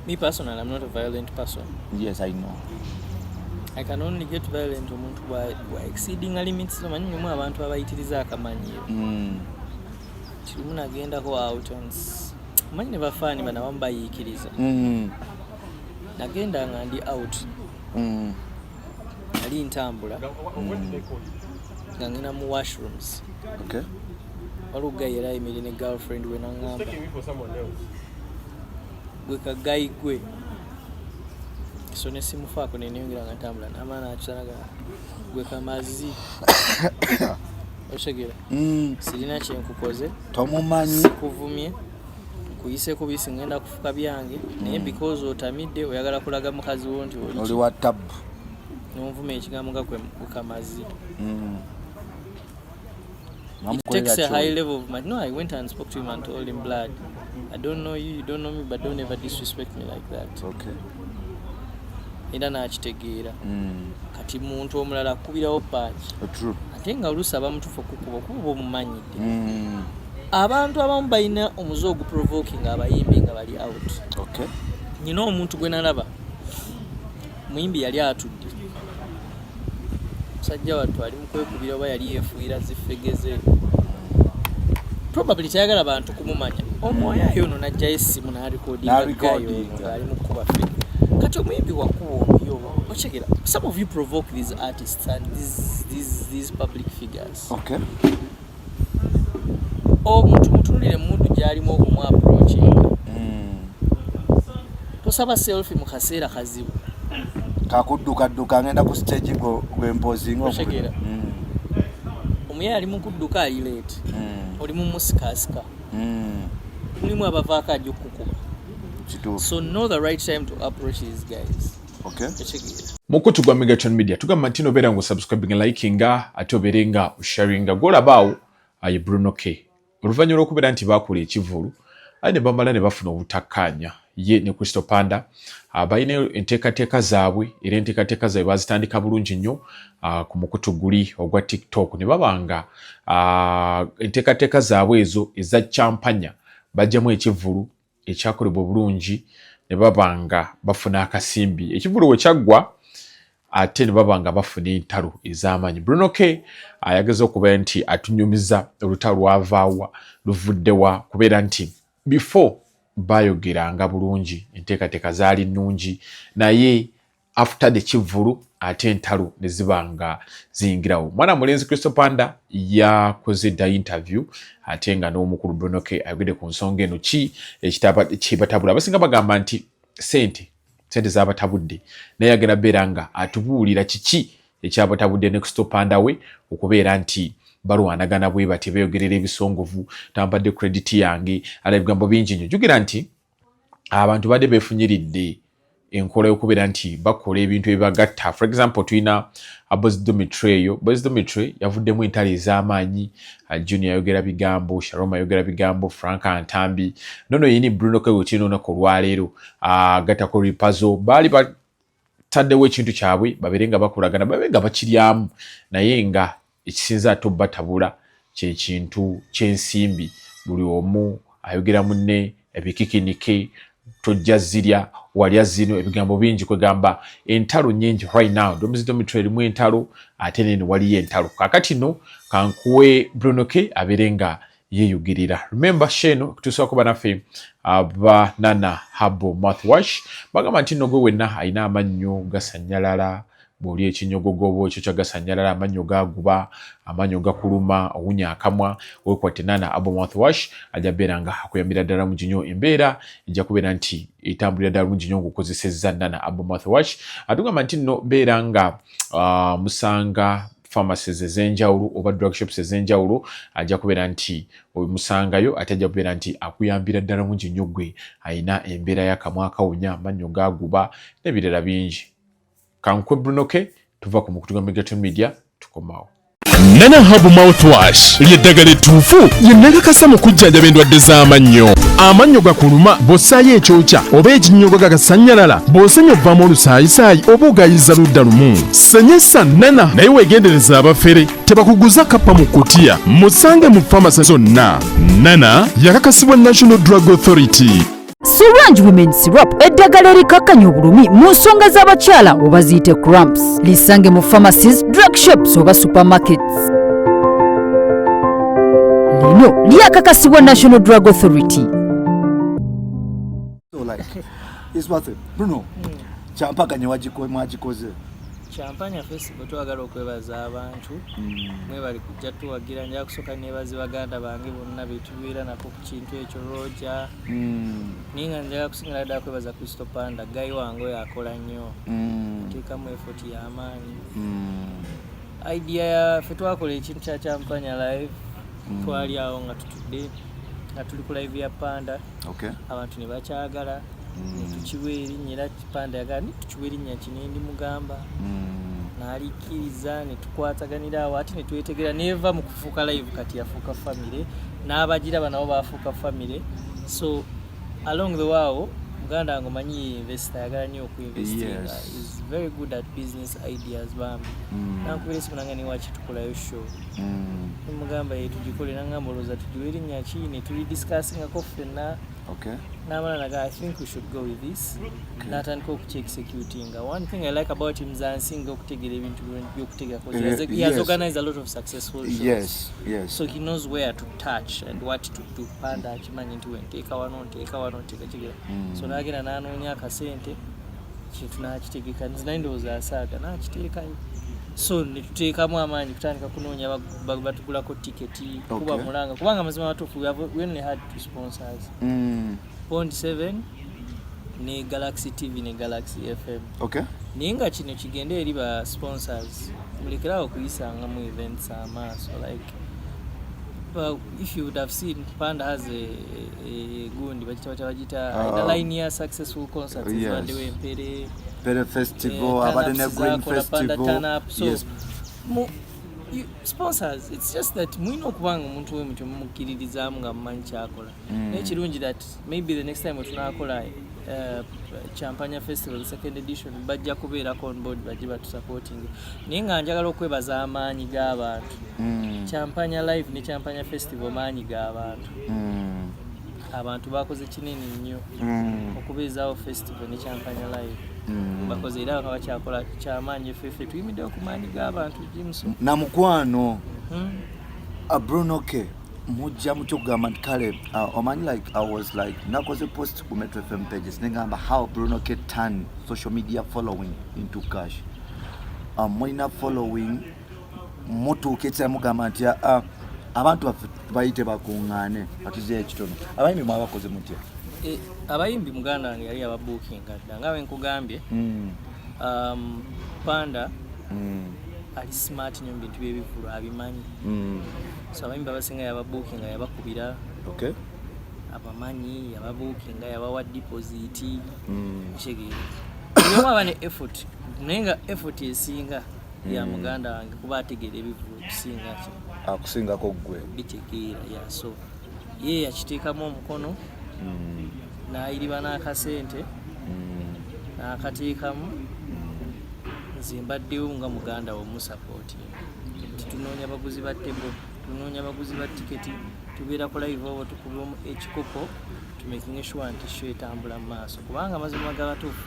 Me personal, I'm not a violent person. Yes, I know. I can only get violent omuntu bwa exceeding a limit so manyi mu abantu abayitiriza akamanyi. Mm. Tirumu nagenda ko out and manyi bafani bana wamba yikiriza. Mm. Nagenda nga ndi out. Mm. Ali ntambula. Mm. Ngangina mu washrooms. Okay. waliwo guy yali ayimire ne girlfriend we naŋŋamba gwe kagayi gwe so ne simufaako ne neyongera nga ntambula n'amaana akisanaga gwe kamazi okitegera mm. sirina kyenkukoze tomumanyi sikuvumye nkuyiseko bisi ngenda kufuka byange naye mm. because otamidde oyagala kulaga mukazi wo nti oli wa tabu nonvuma ekigambo nga kwe kamazi mm. It takes a high level of my. No, I went and spoke to him and told him, blood, I don't know you, you don't know me, but don't ever disrespect me like that. Okay. era n'akitegeera mm. kati muntu omulala akubirawo paaki uh, ate nga oluusi abamutuufu okukuba okuba oba omumanyidde mm. abantu abamu balina omuze oguprovokinga abayimbi nga bali out nyina omuntu gwe nalaba Muyimbi yali atudde musajja wattu ali mukwekubira oba yali yefuuyira zifegeze probably tayagala bantu kumumanya omwoyo ayo ono najjayo essimu nalikodingaali mukuba fe kati omuyimbi wakuba omuyo okyegera some of you provoke these artists and these, these, these public figures okay. omuntu mutunulire mumundu gyalimu okumu approachinga hmm. tosaba selfi mu kaseera kazibu kakuddukadduka ngenda ku stage gwempozingaotegeera hmm. omuyaye ali mukudduka ali late hmm. oli mumusikasika mulimu abavaako ajja okukukuba so know the right time to approach these guys okay mukutu gwa megatron media tugamba nti nobeera nga osubscribinga likinga ate obeere nga osharinga gwolabaawo aye bruno k oluvannyuma lwokubeera nti baakula ekivulu aye ne bamala ne bafuna obutakkaanya ye ne kristo panda ah, balina enteekateeka zaabwe era enteekateeka zaabwe bazitandika bulungi nnyo ah, ku mukutu guli ogwa tiktok ne baba nga ah, enteekateeka zaabwe ezo eza champanya bajjamu ekivulu ekyakolebwa obulungi ne baba nga bafuna akasimbi ekivulu we kyaggwa ate ne baba nga bafuna entalo ez'amaanyi bruno k ayageza okuba nti atunyumiza olutalo lwavaawa luvuddewa kubeera nti before baayogeranga bulungi enteekateeka zaali nnungi naye after the kivvulu ate entalo ne ziba nga ziyingirawo mwana mulenzi kristo panda yakoze dda interview ate nga n'omukulu bronoke ayogedde ku nsonga eno ki ekibatabula abasinga bagamba nti sente sente zabatabudde naye agenda beera nga atubuulira kiki ekyabatabudde ne kristo panda we okubeera nti balwanagana bwe batyo beeyogerera ebisongovu tambadde credit yange ala ebigambo bingi nnyo jukira nti abantu badde befunyiridde enkola yokubeera nti bakola ebintu ebibagatta for example tulina abozi domitry eyo bozi domitry yavuddemu entalo ez'amaanyi uh, junior ayogera bigambo sharoma ayogera bigambo frank antambi nono yini bruno kewetino onaku olwaleero uh, gatako ripazo baali taddewo ekintu kyabwe babere nga bakolagana babe nga bakiryamu naye nga ekisinza ate obatabula kyekintu kyensimbi buli omu ayogera munne ebikikinike tojja zirya walya zino ebigambo bingi kwegamba entalo nyingi right now domizidomitro erimu entalo ate nene waliyo entalo kakati no kankuwe brunoke abere nga yeyugirira remember sheno okutuusa kuba naffe abanana habo mouthwash bagamba nti nno gwe wenna alina amannyo gasanyalala bwoli ekinyogogo oba ekyo kyagasanyalala amannyo gaguba amannyo gakuluma owunya akamwa wekwatte nana abo mouthwash ajja beera nga akuyambira ddala mungi nyo embeera ejja kubeera nti etambulira ddala mungi nyo ngaokozesezza nana abo mouthwash atugamba nti nno beera nga uh, musanga pharmacies ezenjawulo oba drug shops ezenjawulo ajja kubeera nti omusangayo ate ajja kubeera nti akuyambira ddala mungi nnyo gwe alina embeera yakamwa akawunya amannyo gaguba nebirala bingi kankwe brunoke tuva ku mukutu gwa migato media tukomawo nana habu mouthwash lyeddagala ettuufu lyennakakasa mu kujjanjaba endwadde z'amannyo amannyo gakuluma bw'ossaayo ekyokya oba ekinnyogo gagasannyalala bw'osenya ovaamu olusaayisaayi oba ogayiza ludda lumu Sanyusa Nana naye wegendereza abafere tebakuguza kappa mu kutiya musange mu famasi zonna. Nana yakakasibwa National Drug Authority. Solange Women Syrup eddagala erikakkanya obulumi mu nsonga z'abakyala oba ziyite cramps lisange mu pharmacies, drug shops oba supermarkets. Lino lyakakasibwa National Drug Authority. Bruno. kyampaganye mwagikoze kyampanya fesibo twagala okwebaza abantu mm. mwebali kujja tuwagira nja kusooka nebazi baganda bange bonna betubeera nako ku kintu ekyo roja mm. naye nga njaga kusingira ddala kwebaza kristo panda gayi wange oyo akola nnyo mm. ateekamu efoti y'amaanyi idea yafe twakola ekintu kya kyampanya live twali awo nga tutudde nga tuli ku live ya panda abantu ne bakyagala mm. ne tukiwa erinnya era kipande yagala ne tukiwa erinnya ki ne ndimugamba mm. n'alikkiriza ne tukwataganira awo ate ne twetegera neeva mu kufuuka live kati yafuuka famire n'abagiraba nabo baafuuka famire so along the waawo muganda wange omanyi ye investor ayagala nnyo okuinvestinga is very good at business ideas bambi mm. nankubira esimu nange niwaki tukolayo show nemugamba ye tugikole nangamba olowooza tugiwa erinnya ki ne tuli discussingako ffenna n'amala naga i think we should go with this n'atandika okukiexecutinga one thing i like about him zansinga okutegera ebintu byokutegako eh, he has organized a lot of successful shows yes, yes. so he knows where to touch and what to do panda akimanyi nti wenteeka wano nteeka wano nteekategera mm. so nagenda n'anoonya akasente kintu nakitegeka nze naye ndowooza asaaga nakiteekayo so netuteekamu amaanyi kutandika kunoonya batugulako tiketi kuba mulanga kubanga mazima matuufu we only had two sponsors mm. bond seven ne galaxy tv ne galaxy fm okay. naye nga kino kigenda eri ba sponsors mulekerawo okuyisangamu events amaaso like well, if you would have seen panda has a, a eh, gundi bagita bata bagita ina ah. line ya successful concerts yes. bande we mpere mpere festival eh, abade ne green festival so, yes mu you, sponsors it's just that mwino kubanga omuntu we mutyo mukiririzamu nga mumanyi kyakola mm. naye kirungi that maybe the next time wetunakola Uh, champagna festival second edition bajja kubeerako on board bajje batusupporting naye nga njagala okwebaza amaanyi g'abantu mm. champagna live ne champagna festival maanyi g'abantu mm. abantu bakoze kinene nnyo mm. okubeezaawo festival ne champanya live mm. bakoze era bakaba kyakola kyamaanyi efefe tuyimiddewo ku maanyi g'abantu james na mukwano hmm? ah, brunoke mujja mutya okugamba nti kale ah, omanyi like i was like nakoze post ku metro fm pages negamba how brunoke turn social media following into cash ah, mulina following mutuuka ekisera mugamba nti ah, ah, abantu baffe bayite bakuŋŋaane batuzeyo ekitono abayimbi mwabakoze mutya eh, abayimbi muganda wange yali ababuukinga dda nga wenkugambye hmm. um, panda hmm. ali smart nyo mubintu byebivulu abimanyi hmm. so abayimbi abasinga yababuukinga yabakubira abamanyi yababuukinga yabawa dipoziti kitegeera nyoba aba ne effort naye nga effort esinga e ya hmm. muganda wange kuba ategeera ebivulu okusingako akusingako ggwe bitegeera yaso ye yakiteekamu omukono hmm. nayiriba n'akasente hmm. n'akateekamu nze mbaddewo nga muganda womusapooti nti tunoonya baguzi ba tebo tunoonya baguzi ba tiketi tubeera ku live obo tukubamu ekikopo tumekinge shuwa nti sho etambula mu maaso kubanga amazima gabatuufu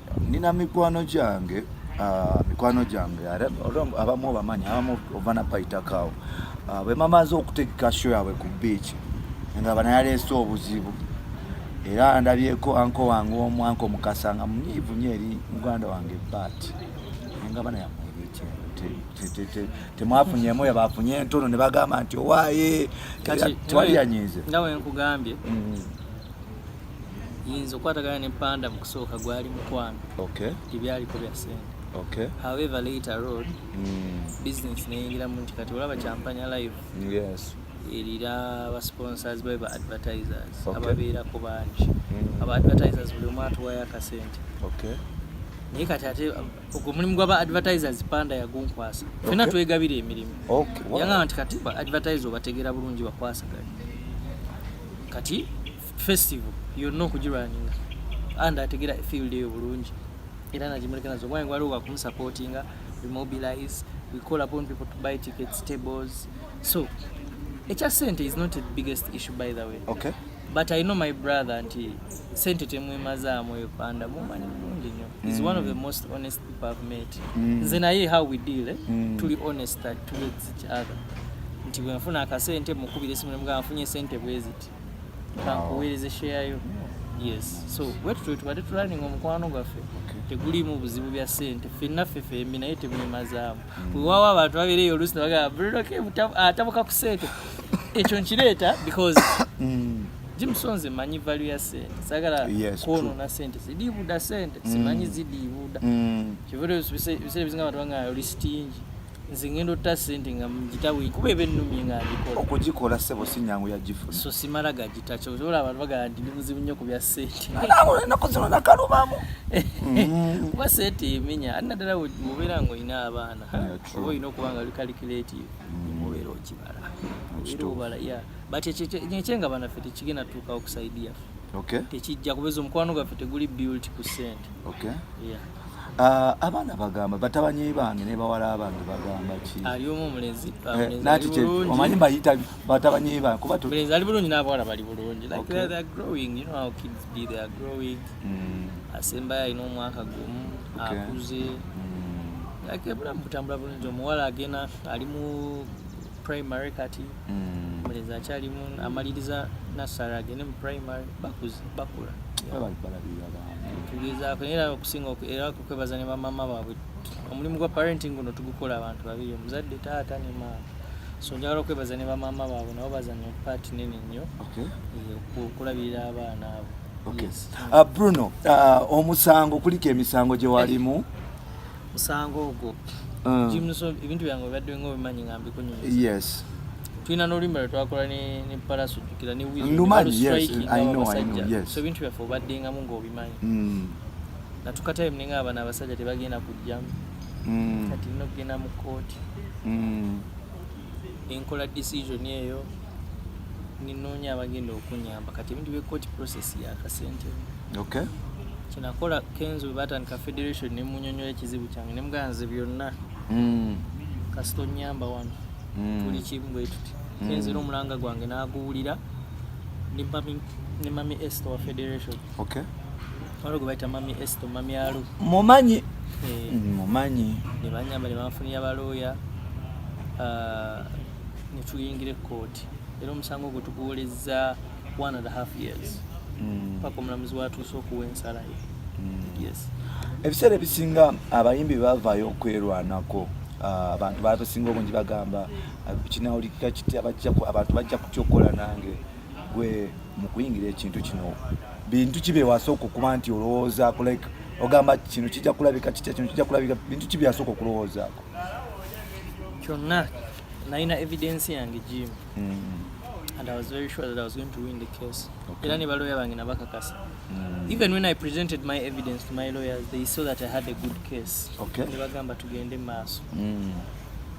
nina mikwano gyange ah, mikwano gyange abamu obamanyi abamu ova napaitakawo ah, bwe mamaze okutegeka sho yaabwe ku biiki nga banayaleese obuzibu era ndabyeko anko wange omu anko mukasa nga munyiivu nyo eri muganda wange bat nga bana temwafunyemu yabafunye entono ne bagamba nti owaaye tewali yanyiize nga wenkugambye mm. yinza okwatagana ne panda mu kusooka gwali mukwano okay. ebyaliko bya sente okay. however later road mm. business neyingiramu nti kati olaba champanya live yes. erira ba sponsors bae ba advertisers okay. ababeerako bangi mm. aba advertisers buli omu atuwayo akasente okay. naye kati ate ogwo omulimu gwaba advertisers panda yagunkwasa okay. fena twegabira emirimu okay. wow. yangamba nti kati ba advertise obategeera bulungi bakwasaganye kati festival yonna okugirwaninga and ategera field eyo bulungi era nagimuleka nazo omwana waliwo wakumusupportinga we mobilize we call upon people to buy tickets tables so ekya sente is not the biggest issue by the way okay. but i know my brother nti sente temwemazaamu eyo panda mumanyi mulungi nyo mm. is one of the mm. most honest people i've met mm. nze naye how we deal eh? mm. tuli honest towards each other nti bwenfuna akasente mukubira esimu nemugamba nfunye sente bweziti kankuweereze share yo yes so bwetutyo tubadde tulaninga omukwano gwaffe teguliimu buzibu bya sente fenna ffe fembi naye temwemazaamu mm. wewawo abantu babeereyo oluusi nebagamba buloke atabuka ah, ku sente ekyo nkireeta because mm. jimusonze manyi valu ya sente sagala kwonona sente zidiibuda sente mm. simanyi zidiibuda kivude biseera bisinga abantu banga oli sitingi nze ngenda otta sente nga mugitawe kuba eba ennumye nga ngikola okugikola sebo si nyangu yagifuna so simala gagita kyotola abantu bagala nti ndi muzibu nnyo ku bya sente enaku zino nakalubamu mm. kuba sente emenya ati naddala mubeera nga olina abaana oba olina okuba nga oli kalikulative mubeera mm. okibala era obala ya but ekyenga banaffe tekigenda tuuka okusaidia tekijja kubeza omukwano gwaffe teguli built ku sente Ah, abaana bagamba batabanye bange ne bawala bange bagamba ki ali omu mulezi ah, eh, nati kye omanyi bayita batabanye bange kuba to mulezi ali bulungi n'abawala bali bulungi like okay. they, they are growing you know how kids be they are growing mm. asembayo alina omwaka gumu okay. akuze mm. like ebulamu butambula bulungi omuwala agenda ali mu primary kati mm. mulezi akyali mu amaliriza nasara agende mu primary bakuze bakula tugezaako era okusinga era kukwebaza ne bamama baabwe omulimu gwa parenting guno tugukola abantu babiri omuzadde taata ne maama so njagala okwebaza ne bamama baabwe nabo bazanya paati nene nnyo eh, okulabirira abaana abo uh, bruno uh, omusango kuliko emisango gye walimu musango ogwo ah. jimuso ebintu byange obadde nga obimanyi nga mbikunyumiza yes tulina n'oluyimba lwe twakola ne ne palaso jukira ne wizso ebintu byaffe obaddengamu ng'obimanyi mm. natukatime ninga abana abasajja tebagenda kujjamu mm. kati nogenda mu kooti mm. nenkola decision eyo ninoonya abagenda okunyamba kati ebintu bye court process yakasente okay kyenakola kenzo batandika federation nemunyonyola ekizibu kyange nemuganze byonna mm. kasita onyamba wano mm. tuli kimu bwetuti mm. kenzo era omulanga gwange naguwulira ne mami este wa federation okay Waliwo gwe bayita Mami Esto, Mami Alu. Mumanyi. Eh. Mumanyi. Ne banyamba ne banfunira balooya ah, ne tuyingira ekkooti era omusango ogwo tuguwolezza one and a half years mm. paka omulamuzi watuuse okuwa ensala ye. Mm. Yes. Ebiseera ebisinga abayimbi bavaayo okwerwanako ah, abantu babasinga obungi bagamba ah, kinawulikika kiti abantu bajja kutya okukola nange gwe mu kuyingira ekintu kino bintu ki byewasooka okuba nti olowoozaako like ogamba kino kijja kulabika kitya kino kijja kulabika bintu ki byasooka okulowoozaako kyonna nalina evidence yange jim mm. and i was very sure that i was going to win the case era ne baloya bange nabakakasa mm. even when i presented my evidence to my lawyers they saw that i had a good case ne bagamba tugende mu maaso mm.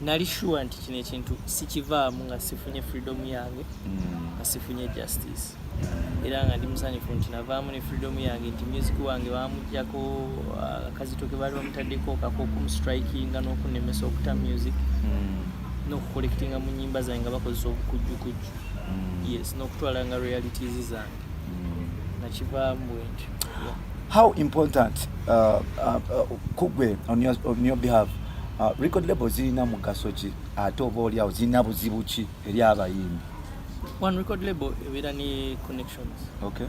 nali sure nti kino ekintu sikivaamu nga sifunye freedom yange mm. nga sifunye justice mm. era nga ndi musanyufu nti navaamu ne freedom yange nti music wange bamujjako uh, akazito ke baali bamutaddeko kakookumustrikinga n'okunemesa okuta music mm. n'okukolekitinga mu nyimba zange nga bakozesa obukujjukujju yes n'okutwala nga realities zange nakivaamu bwentyo how important uh, uh, uh, kugwe on your, on your behalf Uh, record label zirina mugaso ki ate oba oli awo zirina buzibu ki eri abayimbi one record label ebeera ne connections okay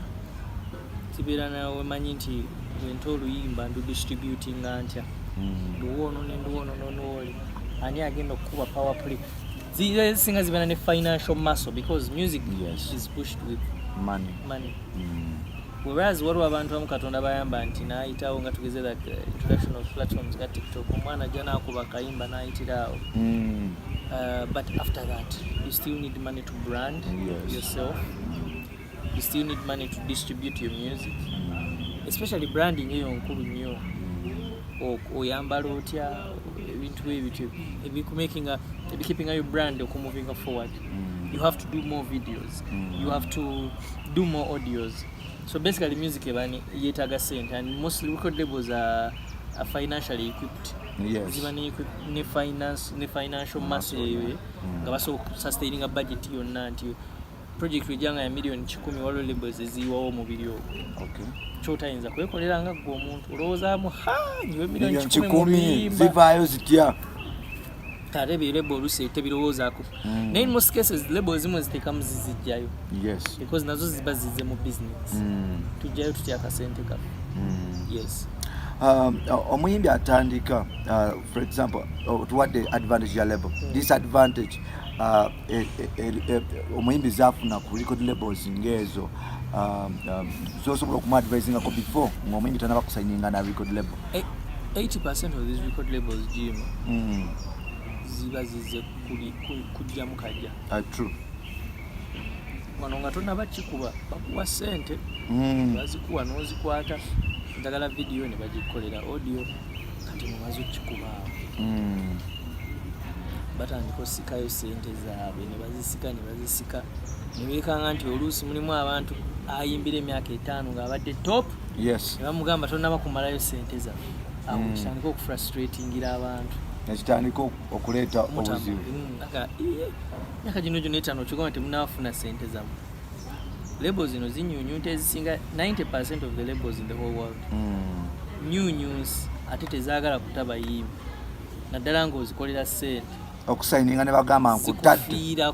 kibeera nawe manyi nti wente oluyimba ndu distributinga ntya mm. nduwoono nenduwoono nonooli ani agenda okukuba power play zisinga zibeera ne financial muscle because music yes. is pushed with money, money. Mm. whereas waliwo abantu abamu katonda bayamba nti nayitawo nga tugeze like eh, introduction of platforms ga tiktok omwana ajja nakuba kayimba nayitira awo mm. uh, but after that you still need money to brand yes. yourself mm. you still need money to distribute your music mm. especially branding eyo nkulu nnyo oyambala otya ebintu ebityo ebikumakinga ebikeepinga your brand okumuvinga forward mm. you have to do more videos mm. you have to do more audios so basically music ebani yetaga sente and mostly record labels are, are financially equipped yes. ziba ne, ne, finance, ne financial mass eyo eh, mm. nga basobola okusustaining a budget yonna nti project ejanga ya million kikumi waliwo labels eziyiwawo omubiri ogwo okay. kyotayinza kwekolera nga gwe omuntu olowoozamu ha nyiwe million kikumi zivaayo zitya ate birebo olusi tebirowoozako mm. naye most cases lebo ezimu eziteekamu zizijjayo because nazo ziba zize mu business mm. tujjayo tutya akasente kaffe mm. yes um, omuyimbi atandika uh, for example uh, tuwadde advantage ya lebo disadvantage uh, e, e, e, omuyimbi zafuna ku record labels ngaezo um, um, zosobola okumuadvisingako before ngaomuyimbi tanabakusayininga na record label 80% of these record labels jim mm. ziba zize kujjamu kajja ah, true wano nga tonaba kikuba bakuwa sente mm. bazikuwa nozikwata njagala vidiyo ne bagikolera audio kati mumaze okukikuba awo mm. batandika osikayo sente zaabwe ne bazisika ne bazisika ne beekanga nti oluusi mulimu abantu ayimbira emyaka etaano ng'abadde top yes bamugamba tonaba kumalayo sente za awo mm. kitandika okufrustratingira abantu nekitandika okuleeta obuzibu myaka gino gyona etano okigamba nti munafuna sente zamu lebo zino zinyunyunta ezisinga 90 percent of the labels in the whole world mm. nyunyunsi ate tezagala kutabayimbi naddala nga ozikolera sente okusayininga ne bagamba nkutadde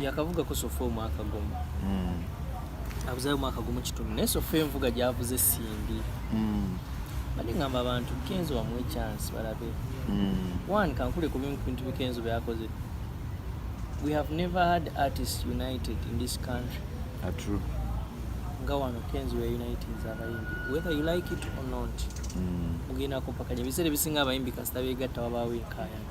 yakavuga ko sofa omwaka gumu mm. abuzayo omwaka gumu kitundu naye sofa envuga gyavuze simbi mm. bali ngamba abantu kenzo wamuwe chance balabe mm. one kankule ku bintu bikenzo byakoze we have never had artists united in this country ah, true nga wano kenzo ya united zabayimbi whether you like it or not mm. mugenda mm. kopakanya ebiseera ebisinga abayimbi kasita begatta wabaawo enkayana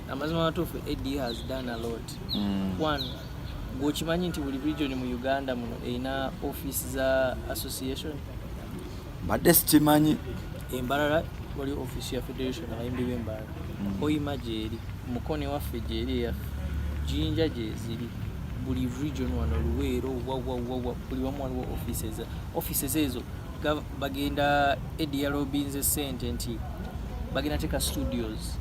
amazima matuufu ad has done a lot mm. one gweokimanyi nti buli region mu uganda muno erina office za association mbadde sikimanyi embalala wali office ya federation abayimbi b'embalala mm. oyima gyeri mukone waffe gyeri eyaffe jinja gyeziri buli region wano luweero wawawawa buli wamu waliwo offices offices ezo bagenda edi yalobinze sente nti bagenda teka studios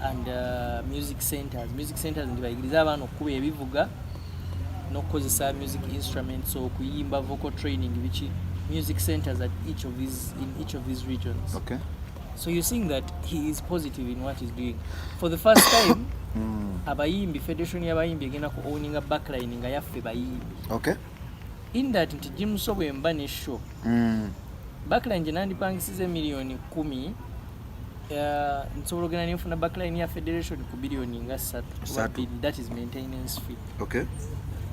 and uh, music centers music centers nti bayigirize abaana okukuba ebivuga n'okukozesa music instruments okuyimba vocal training biki music centers at each of these in each of these regions okay. so you're seeing that he is positive in what he's doing for the first time hmm. abayimbi federation y'abayimbi egenda ku owninga backline nga yaffe bayimbi okay. in that nti jimuso bwemba ne show mm. backline gye nandipangisiza emiliyoni kumi uh, nsobola ogenda nenfuna backline ya federation ku biliyoni nga ssatu that is maintenance fee okay.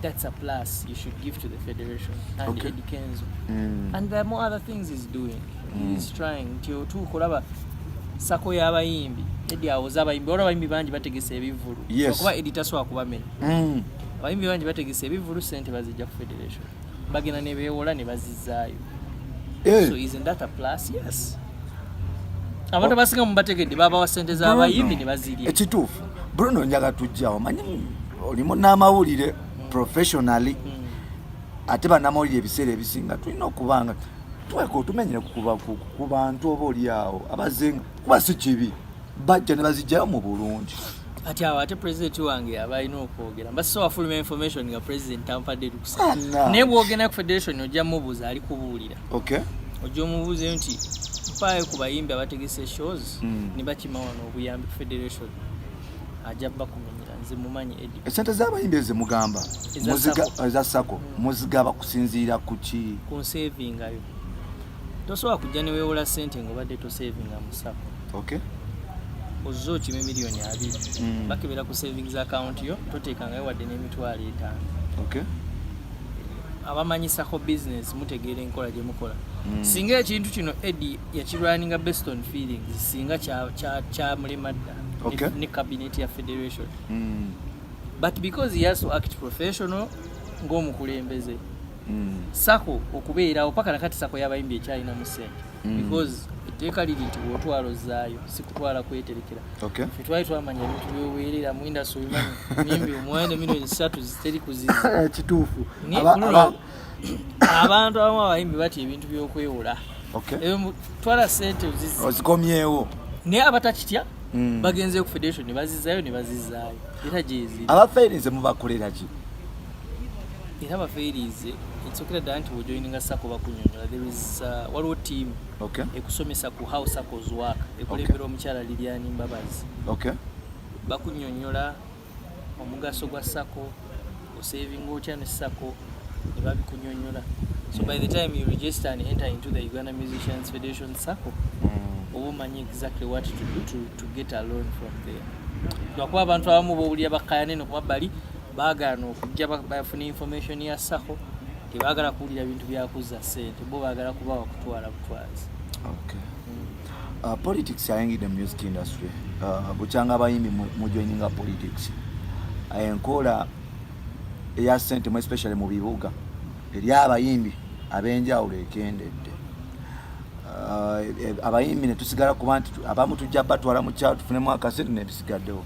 that's a plus you should give to the federation and okay. Eddie Kenzo mm. and there are more other things he's doing mm. he's trying nti otuuka olaba sako y'abayimbi edi awoza abayimbi olaba abayimbi bangi bategesa ebivulu yes. okuba edi tasobola kubamenya mm. abayimbi bangi bategese ebivulu sente bazijja ku federation bagenda nebewola nebazizaayo eh. so isn't that a plus yes abantu oh. abasinga mubategedde babawa sente zabayimbi nebazirya ekituufu bruno njaga tujjawo manyi olimu n'amawulire mm. professionally mm. ate banamawulire ebiseera ebisinga tulina okubanga tweka otumenyere ku bantu oba olyawo abazenga kuba si kibi bajja ne bazijjayo mu bulungi kati awo ate president wange aba alina okwogera mba so afuluma information nga president tampadde lukusa naye bwogenda ku federation ojja mubuuza ali kubuulira okay. ojja omubuuza eyo nti mpaayo ku bayimbi abategese shows mm. ne bakima wano obuyambi ku federation ajja bakumenyera nze mumanyi edi esente z'abayimbi eze mugamba eza sako muzigaba kusinziira ku ki ku nsavingayo tosobola kujja newewola sente ngaobadde tosavinga musako okay. ozze okime miliyoni abiri mm. bakebera ku savings account yo toteekangayo wadde n'emitwalo etaano okay. abamanyisako business mutegeera enkola gye mukola mm. singa ekintu kino edi yakirwaninga based on feelings singa kyamulema dda okay. ne cabinet ya federation mm. but because he has to act professional ng'omukulembeze mm. sako okubeerawo paka nakati sako yabayimbi ekyalina mu sente mm. because etteeka liri nti bwotwala ozaayo sikutwala kweterekera fe twali twamanya ebintu byoweerera mu indasi obimanyi mimbi omwana emino esatu ziteri kuziza kituufu abantu abamu abayimbi batya ebintu byokwewola twala sente ozikomyewo naye abatakitya mm. bagenzeyo ku federation nebazizayo nebazizayo era gyeziri abafaire nze mubakolera ki era bafeeriize ekisokera ddala nti wejoininga sako bakunyonyola there is uh, waliwo team okay. ekusomesa ku how sackles work ekulembera okay. omukyala liliani mbabazi okay. bakunyonyola omugaso gwa sako osavinga otya ne sako ne babikunyonyola so by the time you register and enter into the uganda musicians federation sako mm. oba omanyi exactly what to do to, to get a loan from there lwakuba abantu abamu bowulira bakayane nokuba bali baagaana okujja bafuna information ya sako tebagala kuwulira bintu byakuzza sente bo bagala kuba wakutwala butwazi okay. uh, politics ayingidde mu music industry uh, bukyanga abayimbi mujoininga politics enkola eya sente mu especially mu bibuga eri abayimbi abenjawulo ekendedde uh, e, abayimbi netusigala kuba nti abamu tujja batwala mu kyalo tufunemu akasente nebisigaddewo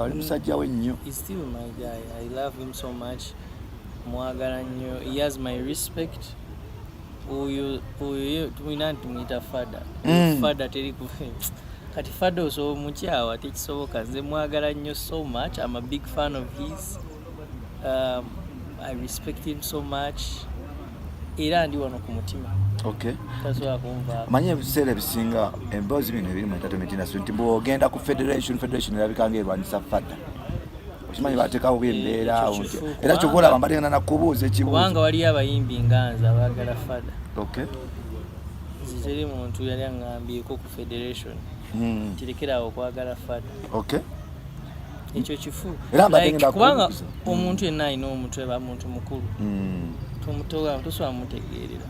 Oli musajja we nnyo. He's still my guy. I love him so much. Mwagala nnyo. He has my respect. Oyo oyo tumina tumuyita fada. Mm. Fada teri ku kati fada osobola omukyawa tekisoboka. Nze mwagala nnyo so much. I'm a big fan of his. Um, I respect him so much era ndi wano ku mutima okay. tasobola kunva manya ebiseera ebisinga emboozi bino ebiri mu entertainment industry nti bwogenda ku federation federation erabika nga erwanyisa fata okimanyi batekawo bembeera eh, era kyova olaba mbategana nakubuuza ekibkubanga waliyo abayimbi nga nze abagala fada okay. ziteri muntu yali aŋambyeko ku federation hmm. kirekerawo okwagala fada okay. ekyo kifu kubanga mm. omuntu yenna alina omutwe ba muntu mukulu mm. tomutowa tosobola mutegeerera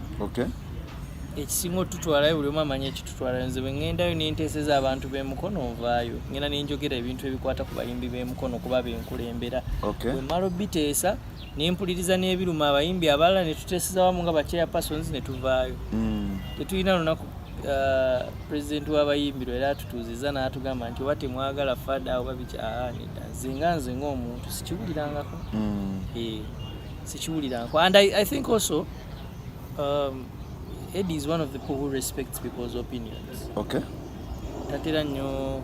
ekisinga otutwalayo buli omu amanyi ekitutwalayo nze bwe ŋŋendayo nenteeseza abantu b'emukono nvaayo ngenda nenjogera ebintu ebikwata ku bayimbi b'emukono kuba benkulembera bwe mmala obiteesa ne mpuliriza n'ebiruma abayimbi abalala ne tuteeseza wamu nga bachair persons ne tuvaayo mm. tetulina lunaku uh, pulezidenti w'abayimbiro era atutuuzizza n'atugamba nti oba temwagala fada oba bikyanida ah, nze nga nze ng'omuntu sikiwulirangako mm. eh, sikiwulirangako and I, i think also um, edi is one of the people who respects people's opinions okay tatera nnyo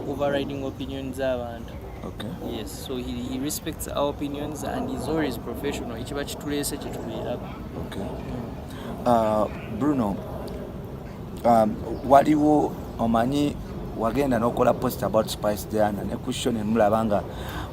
overriding opinions z'abantu Okay. Yes, so he, he respects our opinions and he's always professional. Ekiba kituleese kye tubeerako. Okay. Mm. Uh, Bruno, um, waliwo omanyi wagenda n'okola post about Spice Diana ne question emulaba nga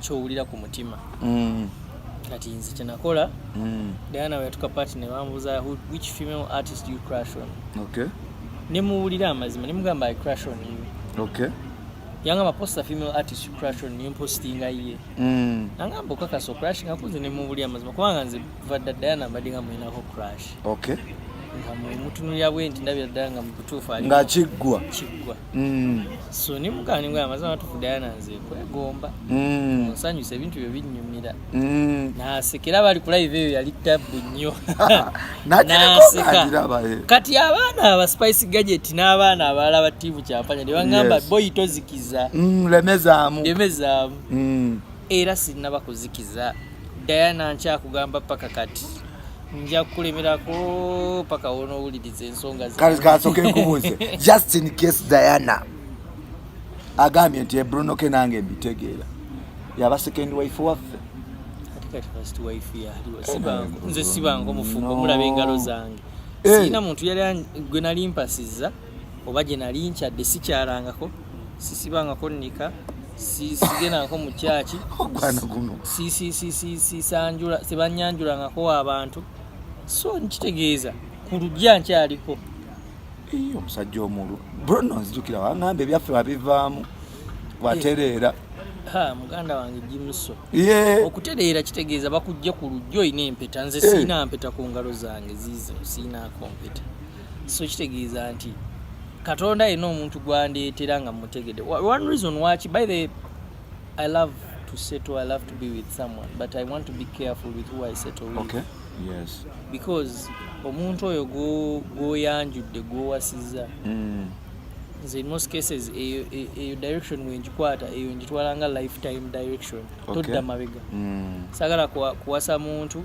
kyowulira ku mutima mm. kati nze kyenakola mm. diana weyatuka pati nebambuza which female artist you crash on okay. nemuwulira amazima nemugamba i crash on you okay. yanga maposta female artist you crash on you mpostinga ye mm. nangamba okakasa ocrashinga kunze nemuwulira amazima kubanga nze kuva dda Diana mbadde nga mulinako crash okay nga mwemutunulira bwe nti ndabira ddala nga mubutuufu ali nga kiggwa kiggwa mm. so ni mugani nga amazima matuufu Diana nze kwegomba mm. nsanyusa ebintu byo binyumira mm. nasekera bali ku live eyo yali tabbu nnyo naseka eh. kati abaana aba spice gadget n'abaana abalala ba tiivu kyampanya ne bagamba yes. boyi tozikiza mm, lemezaamu lemezaamu mm. era sinaba kuzikiza Diana nkyakugamba paka kati nja kukulemerako paka wonowuliriza ensonga kasoke nkubuuze just in case Diana agambye nti Bruno ke nange mbitegeera yaba second wife waffe nze sibange omufumbo mulaba engalo zange eh. sirina muntu yali gwe nali mpasiza oba gye nali nkyadde sikyalangako sisibangako nnika sigendangako mu kyaki tebanyanjulangako abantu so nkitegeeza ku lugya nkyaliko omusajja omulu brono nzijukira wangamba ebyaffe babivaamu watereera eh, muganda wange jimuso okutereera kitegeeza bakujja ku lujja olina empeta nze eh. siina mpeta ku ngalo zange ziizo siinaako mpeta so kitegeeza nti katonda yena omuntu gwandeetera nga mutegede one reason waki by the i love to settle i love to be with someone but i want to be careful with who i settle with okay. yes. because omuntu oyo gwoyanjudde gwowasiza mm. nze in most cases eyo e, e, direction wenjikwata eyo njitwala nga lifetime direction okay. todda mabega mm. sagala kuwasa muntu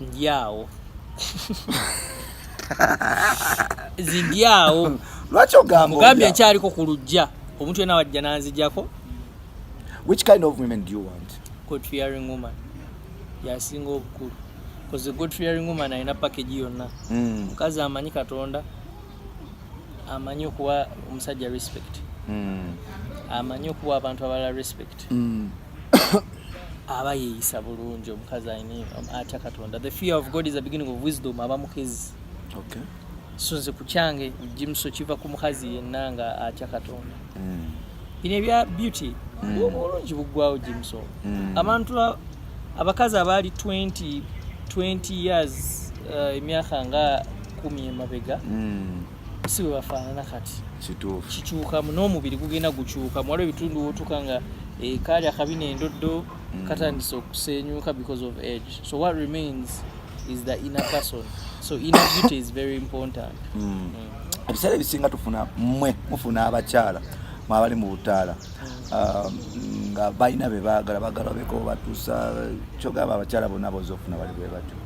Ndiawo. Zindiawo. Lwaki ogamba? Ogambye nkyaliko ku lujja. Omuntu yena wajja nanzijako. Which kind of women do you want? God fearing woman. Yasinga obukulu. Because the God fearing woman alina package yonna. Hmm. Mukazi amanyi Katonda. Amanyi okuwa omusajja respect. Hmm. Amanyi okuwa abantu abalala respect. Mm. aba yeeyisa bulungi omukazi alina um, atya katonda the fear of god is the beginning of wisdom aba mukezi okay. so nze ku kyange jimuso kiva ku mukazi yenna nga atya katonda mm. bino ebya beauty mm. obulungi buggwawo jimuso mm. abantu abakazi abaali 20 20 years uh, emyaka nga kumi emabega mm. si bwe bafaanana kati kituufu kikyukamu n'omubiri gugenda gukyukamu waliwo ebitundu wotuka nga eh, kaali akabi n'endoddo mm. katandise okusenyuka because of age so what remains is the inner person so inner beauty is very important mm. Mm. ebiseera ebisinga tufuna mwe mufuna abakyala mwabali mu butaala um, nga balina be baagala bagala beko batuusa kyogamba abakyala bonna boza okufuna bali bwe batyo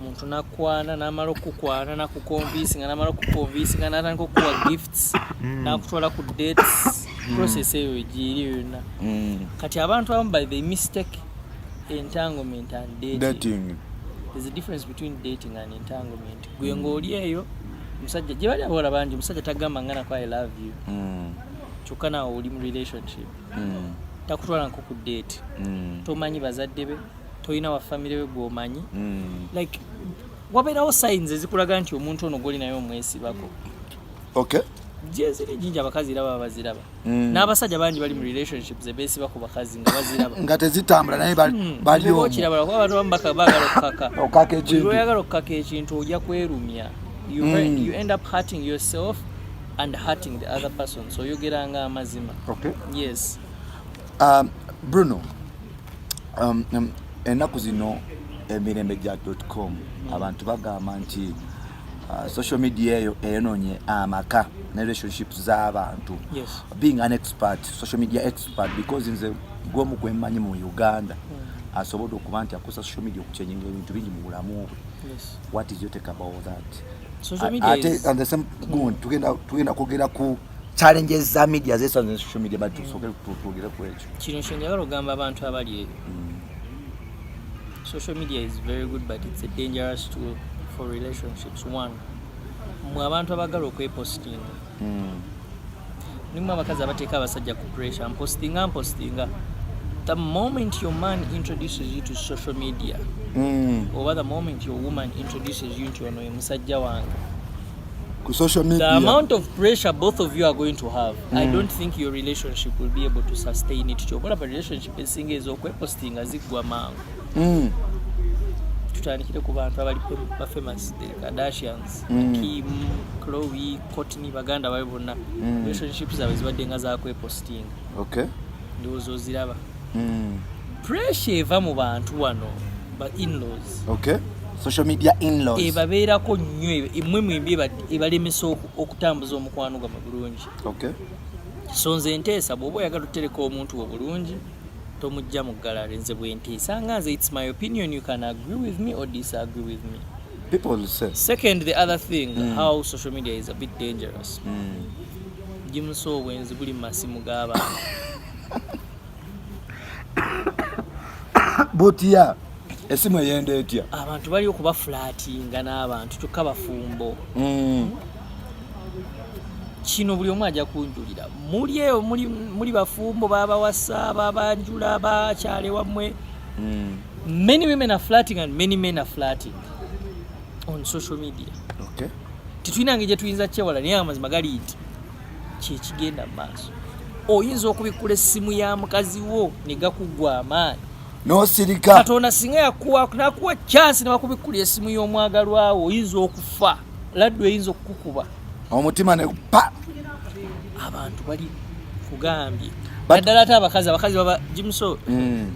omuntu nakwana namala okukwana nakukonvinsinga namala okukonvinsinga natandika okukuwa gifts mm. nakutwala ku dates mm. process eyo egiiri yonna mm. kati abantu abamu by the mistake entanglement and dating there's a difference between dating and entanglement gwe ngaoli eyo musajja gye bali abawala bangi omusajja tagamba nga nako i love you kyokka nawe oli mu relationship takutwala nko ku date tomanyi bazadde be tolina wa famire we gwomanyi mm. like wabeerawo sayinzi ezikulaga nti omuntu ono gwoli naye omwesibako okay jeziri jinja abakazi era baba baziraba mm. n'abasajja bangi bali mu relationships ebesiba ku bakazi nga baziraba nga tezitambula naye hmm. baliokirabala kuba abantu bamu bagala okukaka okukaka ekintu oyagala okukaka ekintu ojja kwerumya you, mm. you end up hurting yourself and hurting the other person so oyogeranga amazima okay. yes um, bruno Um, um, ennaku zino emirembe gya dotcom abantu bagamba nti uh, social media eyo eyonoonye amaka ne relationships z'abantu being an expert social media expert because nze gwomu gwemmanyi mu uganda hmm. asobodde okuba nti akozesa social media okukyejinga ebintu bingi mu bulamu bwe what is your take about that ate and the same tugenda kwogera ku challenges za media zesanze social media but hmm. tusogere twogere ku ekyo kino kyenjagala ogamba abantu abali eyo mm. social media is very good but it's a dangerous tool for relationships one mwe abantu abagala okwepostinga mm. nimu abakazi abateeka abasajja ku pressure mpostinga mpostinga the moment your man introduces you to social media mm. oba the moment your woman introduces you nti ono ye musajja wange ku social media. The amount of pressure both of you are going to have, mm. I don't think your relationship will be able to sustain it. Chokola ba relationship esinga ezo kwe posting azigwa mangu. Mm. Tutandikire ku bantu abali ba famous the Kardashians, mm. Kim, Khloe, Kourtney baganda bali bonna. Mm. Relationships zawe zibadde nga za kwe posting. Okay. Ndiwozo ziraba. Mm. Pressure eva mu bantu wano. ba inlaws okay social media inlaws ebabeerako nnyo emwe mwembi ebalemesa okutambuza omukwano gwa bulungi okay so nze nteesa bw'oba oyagala otereka omuntu wo bulungi tomujja mu gallery nze bwenteesa nga nze its my opinion you can agree with me or disagree with me people say second the other thing mm. how social media is a bit dangerous mm. jimusa obwenzi buli mu masimu g'abantu butya esimu eyenda etya abantu bali okuba fulatinga n'abantu kyokka bafumbo mm. kino buli omu ajja kunjulira muli eyo muli bafumbo babawasa babanjula bakyale wammwe mm. many women are flating and many men are flating on social media okay. titulina nge gyetuyinza kyewala naye amazima gali nti kyekigenda maaso oyinza okubikkula essimu ya mukazi wo ne gakuggwa amaanyi nosirika katonda singa yakuwa nakuwa kyansi newakubikkula esimu y'omwagalwawo oyinza okufa laddu eyinza okukukuba omutima ne pa abantu bali kugambye naddala ate abakazi abakazi baba jimuso mm.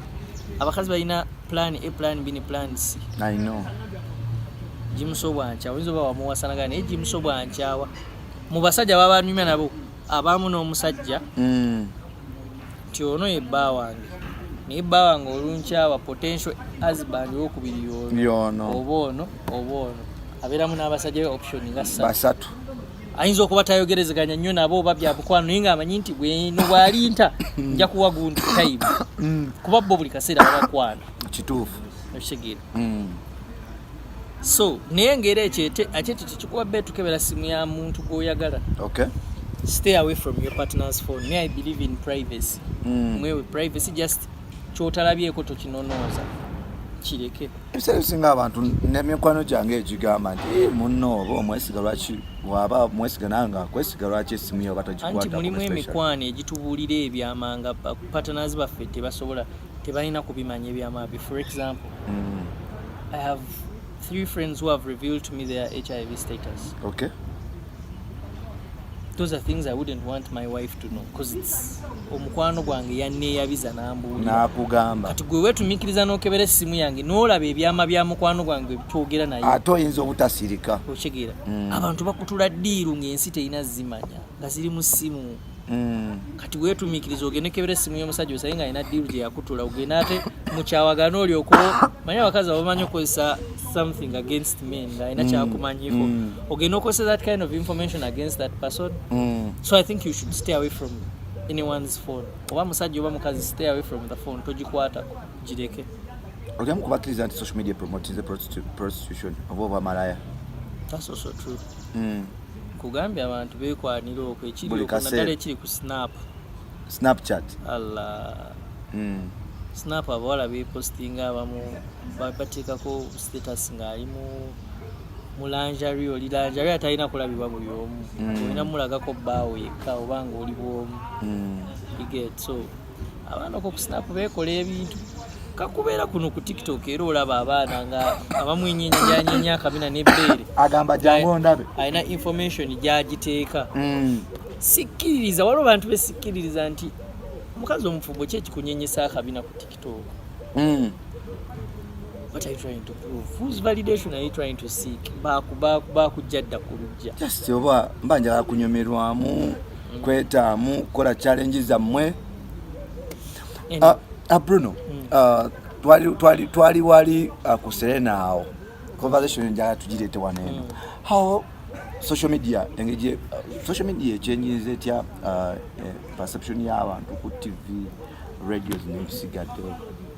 abakazi balina plan a plan b ne plan c jimuso bwankyawa oyinza oba wamuwasanagana naye jimuso bwankyawa mu basajja baba banyumya nabo abamu n'omusajja mm. nti ono ye bba wange naye bba wange olunkyawa potential husband wokubiri yono oba ono oba ono abeeramu n'abasajja be option nga basatu ayinza okuba tayogerezeganya nnyo nabo oba byamukwano naye ngaamanyi nti bweno bwalinta mm. nja kuwa gundi time mm. kuba bo buli kaseera babakwano kituufu okitegeera so naye ngeri ekyo ate ekyo tekikuba be tukebera simu ya muntu gwoyagala okay. stay away from your partner's phone me i believe in privacy mm. mwewe privacy just kyotalabyeko tokinonooza kireke ebiseera ebisinga abantu nemikwano gyange egigamba nti eh, munno oba omwesiga lwaki waba mwesiga nawe nga akwesiga lwaki esimu yo oba tagikwata mulimu emikwano egitubuulira ebyamanga patanazi baffe tebasobola tebalina kubimanya ebyamabi for example mm. i have three friends who have revealed to me their hiv status okay those are things i wouldn't want my wife to know because it's omukwano gwange yanneeyabiza nambuulnakugamba kati gwe weetumiikiriza n'okebera essimu yange n'olaba ebyama bya mukwano gwange byogera naye ate oyinza obutasirika okitegeera mm. abantu bakutula ddiiru ng'ensi terina zimanya nga ziri mu ssimu mm. kati wetumikiriza ogende kebera esimu y'omusajja osaye nga alina diiru gye yakutula ogende ate mukyawagana olyoku manyi abakazi abamanyi okozesa something against men nga alina mm. kyakumanyiko mm. ogende okozesa that kind of information against that person mm. so i think you should stay away from anyone's phone oba musajja oba mukazi stay away from the phone togikwatako gireke olyamu kubakkiriza nti social media promotes the prostitution oba oba malaya that's also true mm. nkugambye abantu bekwanira okwo ekiri Buli okwo kaseera. naddala ekiri ku snap snapchat allah Mm. snap abawala bepostinga abamu ba- bateekako status ng'ali mu mu lanjari oli lanjari atalina kulabibwa buli omu Mm. olina mulagako bbaawo yekka oba ng'oli bwomu Mm. you get so abaana okwo ku sinapu beekola ebintu kakubeera kuno ku tiktok era olaba abaana nga abamwenyenyanyenye akabina nebbeere agamba jangu ndabe alina information gyagiteeka mm. sikkiririza waliwo bantu besikkiririza nti omukazi omufumbo ki ekikunyenyesa akabina ku tiktok mm. what are you trying to prove whose validation are you trying to seek bakujja dda ku lujja just oba mba njala kunyumirwamu kwetaamu kukola challenge zammwe ah, ah, bruno hmm. ah, twali wali ku serena awo conversation njala tugirete waneeno hmm. how social media engeri social media ekyenyiza etya eh, perception y'abantu ku tv radios nebisigaddewo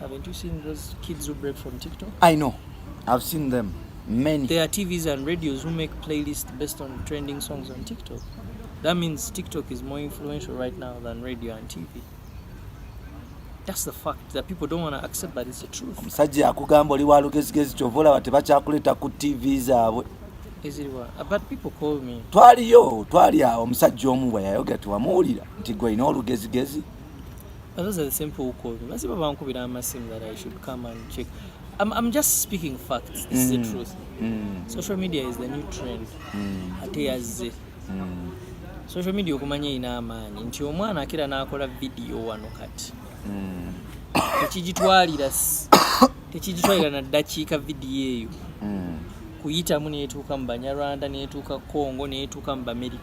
Haven't you seen those kids who break from TikTok? I know. I've seen them. Many. There are TVs and radios who make playlists based on trending songs on TikTok. That means TikTok is more influential right now than radio and TV. That's the fact that people don't want to accept but it's the truth. Omusajja akugamba oli wa lugezigezi kyova olaba tebakyakuleeta ku TV zaabwe. Twaliyo twali awo omusajja omu bwe yayogera tewamuwulira nti gwe olina olugezigezi. But those are the same people who called me. Masiba bankubira amasimu that I should come and check. I'm, I'm just speaking facts. This is the mm. truth. Mm. Social media is the new trend. Mm. Ate yazze. Mm. Social media okumanya ina amaanyi nti omwana akira n'akola video wano kati. Mm. Tekigitwalira tekigitwalira na ddakiika vidiyo eyo mm. kuyitamu n'etuuka mu Banyarwanda n'etuuka Congo n'etuuka mu Bamerica.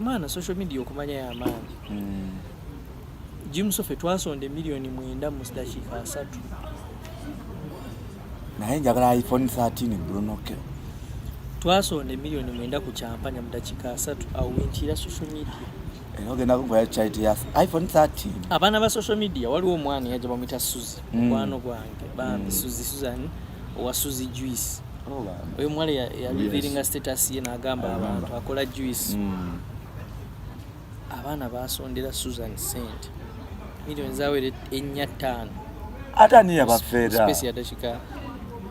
maana social media okumanya yamaanyi hmm. jimusofe twasonda emiliyoni mwenda mu dakiika asatu naye njagala iphone 13 brunoke twasonda emiliyoni mwenda ku kyampanya mu dakiika asatu awo wenkiira social media era ogenda kugoya charity ya iphone 13 abaana ba social media waliwo omwana yaja bamwita suzi hmm. mukwano gwange bambi hmm. suzi suzan owa suzi juice oyo omuwala yaliviringa status ye nagamba abantu akola juice hmm. abaana basondera susan sent milioni zawere enya ttaano ate ani yabafeeraspace yadakika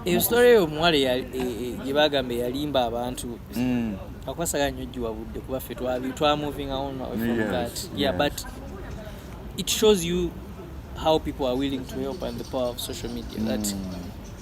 eyo story eyo omuwala e, e, gye bagamba eyalimba abantu hmm. akwasagala nyo giwabudde kuba ffe twamuvinga on from that yeah but it shows you how people are willing to help and the power of social media that mm.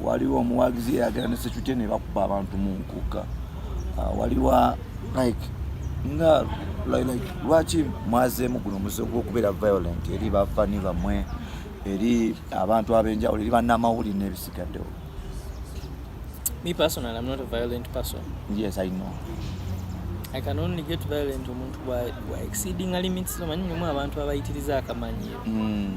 waliwo omuwagizi eyagera ne security ne bakuba abantu mu nkuka ah, waliwo like nga like lwaki mwazeemu guno muze gwokubeera violent eri bafani bamwe eri abantu abenjawulo eri banamawulire nebisigaddewo me personal i'm not a violent person yes i know i can only get violent omuntu wa exceeding limits omanyi mulimu abantu abayitiriza akamanyiiro mm.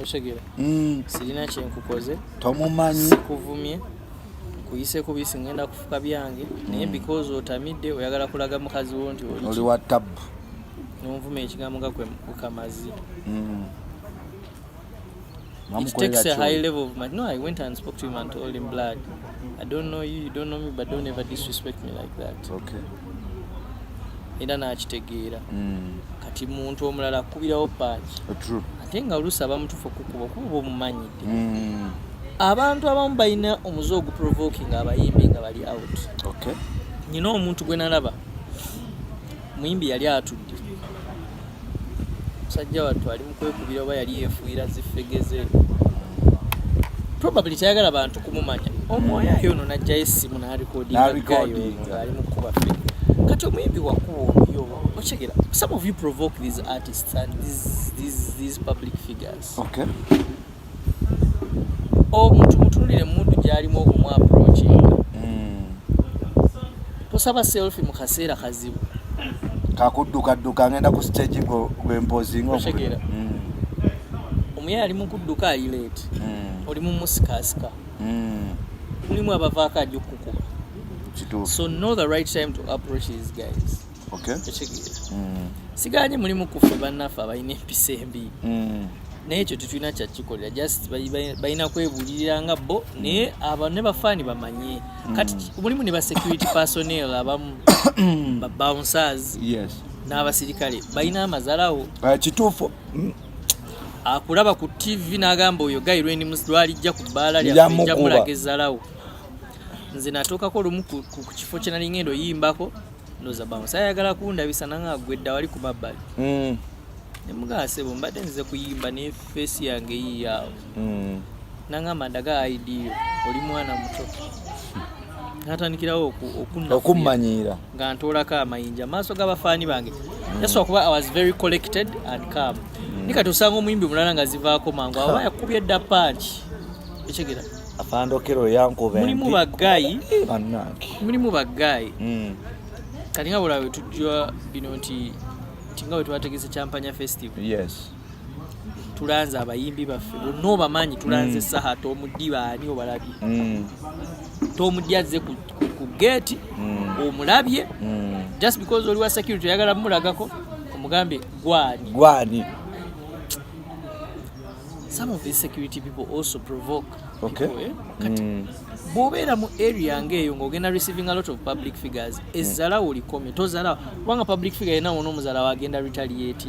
okitegera mm. sirina kyenkukoze tomumanyi sikuvumye nkuyise ku bisi ngenda kufuka byange naye mm. because otamidde oyagala kulaga mukazi wo nti oli wa tabu nonvuma ekigambo nga kwekamazi mm. It takes a high level of man. No, I went and spoke to him and told him, Blood, I don't know you, you don't know me, but don't ever disrespect me like that. Okay. era n'akitegeera mm. kati muntu omulala akubirawo paaki oh, ate nga oluusi abamutufu okukuba okuba oba omumanyidde mm. abantu abamu balina omuze oguprovoking abayimbi nga bali out nyina omuntu gwe nalaba muyimbi yali atudde musajja wattu ali mukwekubira oba yali yefuuyira zifegeze probably tayagala bantu kumumanya omwoyo ayo ono najjayo essimu nalikodingaali mukuba fe kati omuyimbi wakuba omuyo okigera some of you provoke these artists and these, these, these public figures okay. omuntu mutunulire mudu gyalimu okumu approachinga hmm. tosaba selfi mu kaseera kazibu kakuddukadduka ngenda ku stage gwempozinga otegera hmm. omuyaye ali mukudduka ayileeti hmm. oli mumusikasika mulimu abavaako ajja okukukuba so know the right time to approach these guys okitegeera mm. siganye mulimu kuffe bannaffe abalina empisa embi mm. naye ekyo tetulina kyakikolera just balina kwebulirira nga bo naye aba ne bafaani bamanye mm. kati mulimu ne basecurity personel abamu babouncers n'abasirikale balina amazalawo ah, kituufu akulaba ku tv n'agamba oyo gayi lwalijja ku bbaala lyajamulaga ezzalawo nze natuukako lumu ku kifo kyenalinga endo yimbako ndoza bamu sayagala kundabisa nanga agwedda wali ku mabbali mm. nemugasebo mbadde nzize kuyimba ne feesi yange yiyawo mm. nangamba ndaga idiyo oli mwana muto natandikirawo okummanyiira nga ntoolako amayinja maaso g'abafaani bange mm. yesu okuba i was very collected and calm mm. nikati osanga omuyimbi mulala nga zivaako mangu aba yakubye dda panki ekyegera afande okero yankuba mulimu bagayi eh, banange mulimu bagayi mm. kati nga bulawe tujja bino nti tinga wetwategese champanya festival yes tulanze abayimbi baffe bonna obamanyi tulanze mm. saha tomudi baani obalabye mm. tomudi azze ku, ku, ku geeti mm. omulabye mm. just because oliwa security oyagala mumulagako omugambye gwani gwani some of these security people also provoke okay. people, eh? kati mm. bwobeera mu area ngaeyo ngaogenda receiving a lot of public figures mm. ezzalawo likomye tozalawo kubanga public figure yena wona omuzalawo agenda retaliate